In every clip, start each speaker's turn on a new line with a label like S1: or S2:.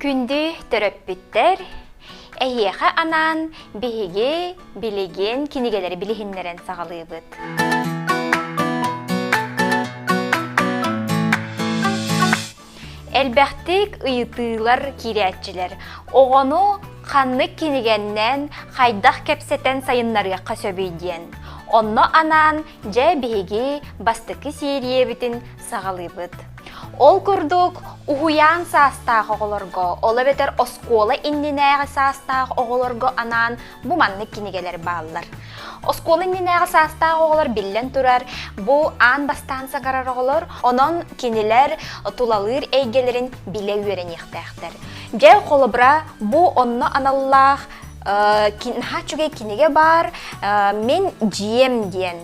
S1: Күндү төрөппүттэр, эһиэхэ анаан биһиги билигин кинигэлэри билиһиннэрэн саҕалыыбыт. Элбэхтик ыйытыылар киирээччилэр оҕону ханнык кинигэннэн, хайдах кэпсэтэн сайыннарыахха сөбүй диэн. Онно анаан дьэ биһиги бастакы сиэрийэбитин саҕалыыбыт. Ол курдук, уһуйаан саастаах оҕолорго, ол эбэтэр оскуола иннинээҕи саастаах оҕолорго анаан Бу маннык кинигэлэр бааллар. Оскуола иннинээҕи саастаах оҕолор биллэн турар, бу аан бастаан саҥарар оҕолор, онон кинилэр тулалыыр эйгэлэрин билэ үөрэниэхтээхтэр. Дьэ, холобура, бу онно аналлаах наһаа үчүгэй кинигэ баар «Мин дьиэм» диэн.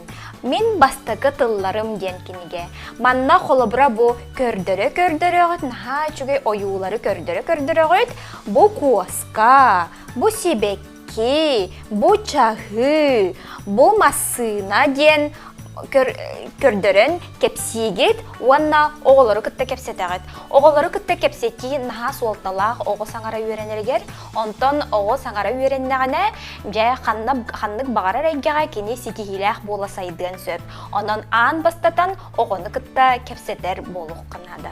S1: «Мин бастакы тылларым» диэн кинигэ. Манна холобура бу көрдөрө-көрдөрөҕүт, наһаа үчүгэй ойуулары көрдөрө-көрдөрөҕүт, бу куоска, Бу сибэкки, бу чаһы, бу массыына диэн көрдөрөн кэпсиигит уонна оҕолору кытта кэпсэтэҕит. Оҕолору кытта кэпсэтии наһаа суолталаах оҕо саҥара үөрэнэригэр. Онтон оҕо саҥара үөрэннэҕинэ, дьэ ханна ханнык баҕарар эйгэҕэ кини ситиһиилээх буола сайдыан сөп. Онон аан бастатан оҕону кытта кэпсэтэр буолуохха наада.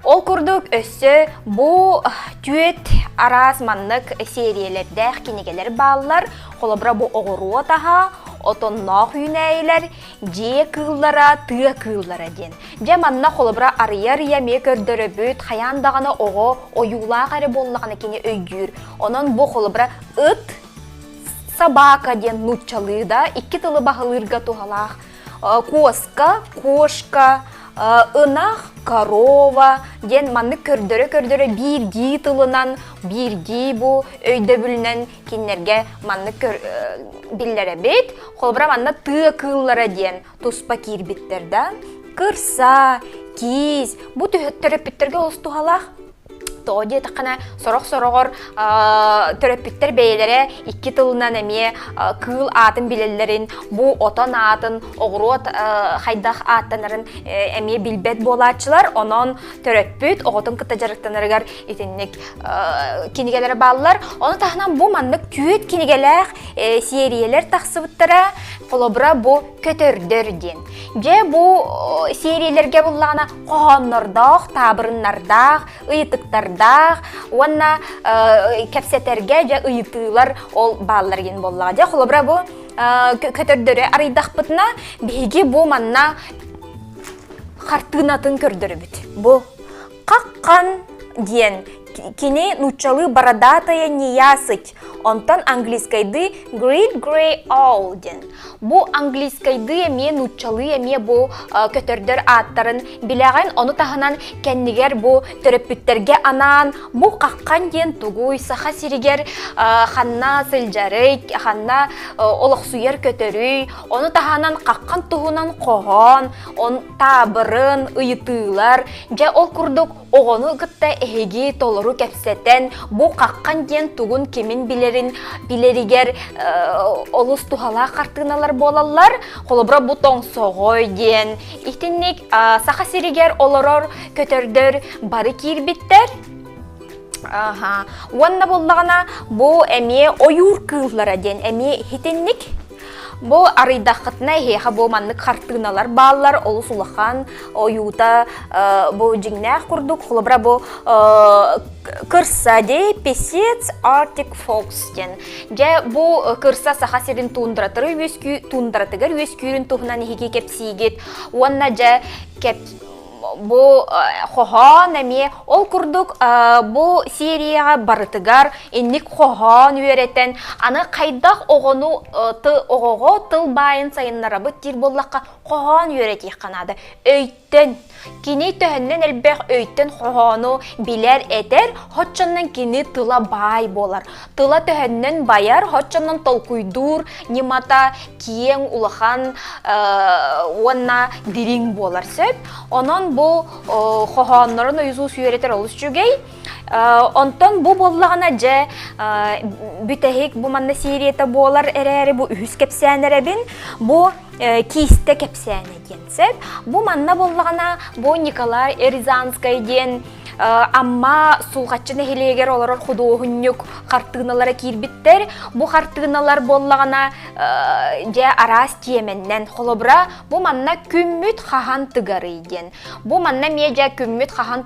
S1: Ол курдук өссө бу түөт араас маннык сериялэрдээх кинигэлэр бааллар. Холобура бу оҕуруот аһа, отонноох үүнээйилэр, дьиэ кыыллара, тыа кыыллара диэн. Дьэ манна холобура арыйа-арыйа эмиэ көрдөрөбүт, хайаан даҕаны оҕо ойуулаах эрэ буоллаҕына кини өйдүүр. Онон бу холобура ыт, собака диэн нууччалыы да икки тылы баһылыырга туһалаах куоска, кошка, ынах, корова диэн маннык көрдөрө-көрдөрө биирдии тылынан, биирдии бу өйдөбүлүнэн кинилэргэ маннык биллэрэбит. Холобура манна тыа кыыллара диэн туспа киирбиттэр да. Кырса, киис бу төрөппүттэргэ олус туһалаах Тоҕо диэтэххинэ, сорох-сороҕор төрөппүттэр бэйэлэрэ икки тылынан эмиэ кыыл аатын билэллэрин, бу отон аатын, оҕуруот хайдах ааттанарын эмиэ билбэт буолааччылар. Онон төрөппүт оҕотун кытта дьарыктанарыгар итинник кинигэлэри бааллар. Ону таһынан бу маннык түүт кинигэлээх сериялэр тахсыбыттара. Холобура бу Көтөрдөр диэн. Дьэ бу сериялэргэ буллаҕына хоһооннордоох, таабырыннардаах, ыйытыктардаах уонна кэпсэтэргэ дьэ ыйытыылар ол бааллар диэн буоллаҕа. Дьэ холобура бу көтөрдөрү арыйдахпытына биһиги бу манна хартыынатын көрдөрөбүт. Бу Каккан диэн кини нууччалыы бородатая неясыть Онтон английскайдыы Great Grey Owl диэн. Бу английскайдыы эмиэ нууччалыы эмиэ бу көтөрдөр ааттарын билэҕин, ону таһынан кэннигэр бу төрөппүттэргэ анаан бу хаххан диэн тугуй Саха сиригэр ханна сылдьарый, ханна олохсуйар көтөрүй, ону таһынан хаххан туһунан хоһоон, он таабырын, ыйытыылар. Дьэ ол курдук Оҕону кытта эһиги толору кэпсэтэн, бу хаххан диэн тугун кимин билэрин билэригэр олус туһалаах хартыыналар буолаллар. Холобура бу тоҥсоҕой диэн итинник Саха сиригэр олорор көтөрдөр бары киирбиттэр. Уонна буллаҕына бу эмиэ ойуур кыыллара диэн эмиэ итинник Бу арыйдаххытына эһиэхэ бу маннык хартыыналар бааллар олус улахан ойуута бу дьиҥнээх курдук холобура бу кырсадей песец Arctic Fox диэн дьэ бу кырса саха сирин тундратары үөскүү тундратыгар үөскүүрүн туһунан иһиги кэпсиигит уонна дьэ кэп Бу э, хоһоон эмиэ ол курдук э, бу серияҕа барытыгар инник хоһоон үөрэтэн аны хайдах оҕону э, ты оҕоҕо тылбаайын сайыннарабыт диир буоллахха хоһоон үөрэтиэххэ наада өйтөн кини төһөннөн элбэх өйтөн хоһоону билэр этэр хоччоннон кини тыла баай буолар тыла төһөннөн байар хоччоннон толкуйдуур ньымата киэҥ улахан уонна дириҥ буолар сөп онон бу хоһооннорун ойузуус үөрэтэр олус үчүгэй онтон бу буоллаҕына дьэ бүтэһик бу манна серията буолар эрээри бу үһүс кэпсээн эрэбин бу Киистэ кэпсээнэ диэн сөп. Бу манна буллаҕына, бу Николай Рязанскай диэн Амма Сулҕаччы нэһилиэгэр олорор худуоһунньук хартыыналара киирбиттэр. Бу хартыыналар буоллаҕына, дьэ араас тиэмэннэн. Холобура, бу манна күммүт хаһан тыгарый диэн. Бу манна медиа күммүт хаһан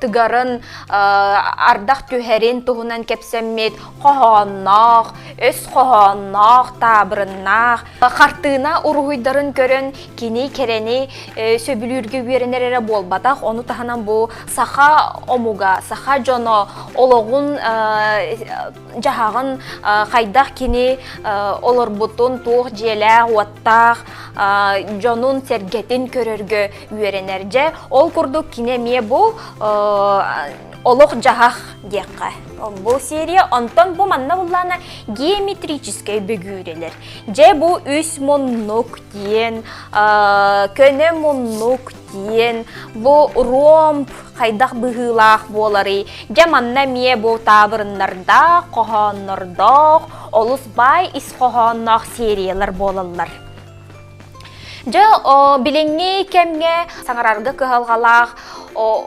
S1: тыгарын ардах түһэрин туһунан кэпсэммит хоһоонноох, өс хоһоонноох, таабырыннаах хартыына уруһуйдарын көрөн кини кэрэни сөбүлүүргэ үөрэнэр эрэ буолбатах. Ону таһынан бу саха омуга, саха дьоно олоҕун дьаһаҕын хайдах кини олорбутун туох дьиэлээх-уоттаах дьонун-сэргэтин көрөргө үөрэнэр. Дьэ, ол курдук кини эмиэ бу олох-дьаһах диэххэ. Бу серия онтон бу манна буллаана геометрическэй бөгүүрэлэр. Дьэ, бу үс муннук диэн, көнө муннук киэн бу ромб хайдах быһыылаах буоларый дьэ манна эмиэ бу таабырыннардаах хоһооннордоох олус баай ис хоһоонноох сериялар буолаллар дьэ билиҥҥи кэмҥэ саҥарарга кыһалҕалаах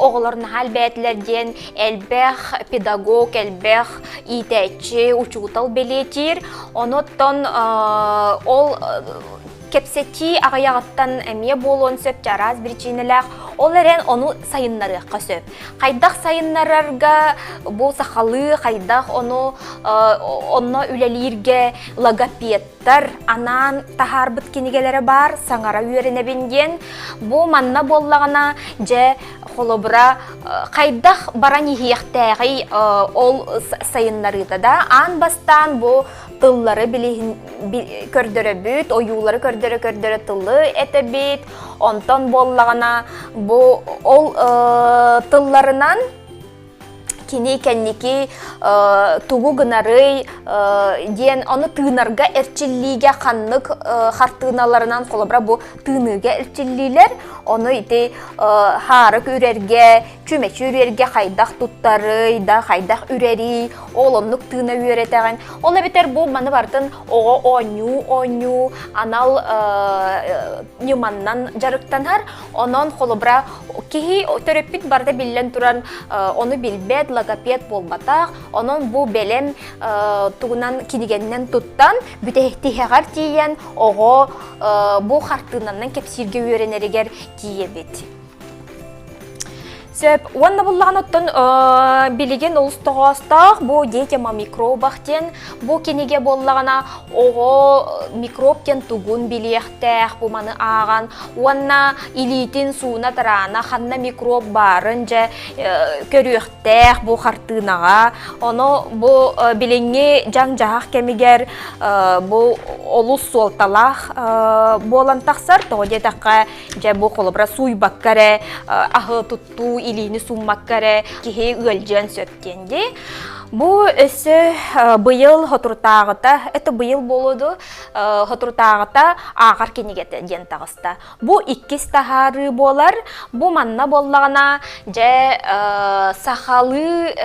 S1: оҕолор наһаа элбээтилэр диэн элбэх педагог элбэх иитээччи учуутал бэлиэтиир онуттан ол Кэпсэтии аҕыйаҕыттан эмиэ буолуон сөп араас биричиинэлээх, ол эрэн ону сайыннарыахха сөп. Хайдах сайыннарарга бу сахалыы, хайдах ону онно үлэлииргэ логопедтар анаан таһаарбыт кинигэлэрэ баар, саҥара үөрэнэбин диэн. Бу манна буоллаҕына, дьэ, холобура, хайдах баран иһиэхтээҕий ол сайыннарыыта да аан бастаан бу тыллары билиһин көрдөрөбүт, ойуулары көрдөрө-көрдөрө тылы этэбит. Онтон буоллаҕына бу ол э, тылларынан кини кэнники э, тугу гынарый э, диэн ону тыынарга эрчиллиигэ ханнык э, хартыыналарынан холобура бу тыыныыга эрчиллиилэр ону ити э, хаарык үрэргэ Чүмэчи үрэргэ хайдах туттарый, да хайдах үрэрий, ол оннук тыына үөрэтэҕин. Ол эбэтэр бу маны бартын оҕо оонньуу оонньуу анал ньыманнан дьарыктанар. Онон холобура киһи төрөппүт барда биллэн туран ону билбэт, логопед буолбатах. Онон бу бэлэм тугунан кинигэннэн туттан бүтэһитиһэҕэр тиийэн оҕо бу хартыынанан кэпсииргэ үөрэнэригэр тиийэбит. Сөп. Уонна буллаҕан оттон билигин олус тоҕоостоох бу детям о микробах диэн бу кинигэ буоллаҕына оҕо микроб диэн тугун билиэхтээх бу маны ааҕан уонна илиитин сууна тараана ханна микроб баарын дьэ көрүөхтээх бу хартыынаҕа ону бу билиҥҥи дьаҥ-дьаһах кэмигэр бу олус суолталаах буолан тахсар тоҕо диэтэххэ Дьэ, бу холобура сууйбакка эрэ, аһы туттуу, илиини сууммакка эрэ киһи ыалдьыан сөп диэн дии. Бу өссө быйыл Хотурутааҕыта, это быйыл болуду Хотурутааҕыта ааҕар кинигэтэ диэн таҕыста. Бу иккис таһаарыы буолар. Бу манна буоллаҕына, дьэ, сахалыы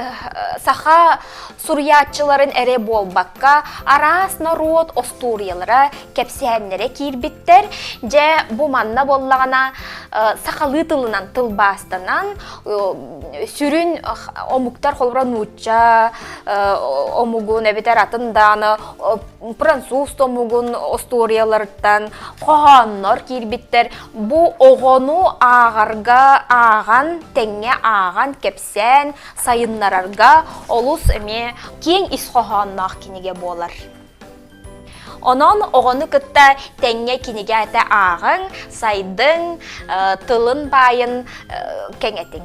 S1: саха Суруйааччыларын эрэ буолбакка, араас норуот остуоруйалара, кэпсээннэрэ киирбиттэр. Дьэ, бу манна буоллаҕына сахалыы тылынан тылбаастанан сүрүн омуктар холобура нуучча омугун эбэтэр атын дааны француз омугун остуоруйаларыттан хоһооннор киирбиттэр. Бу оҕону ааҕарга ааҕан, тэҥҥэ ааҕан кэпсээн кэпсээн, сайыннарарга олус эмиэ киэҥ ис хоһоонноох кинигэ буолар. Онон оҕону кытта тэҥҥэ кинигээтэ ааҕыҥ, сайдыҥ, тылын баайын кэҥэтиҥ.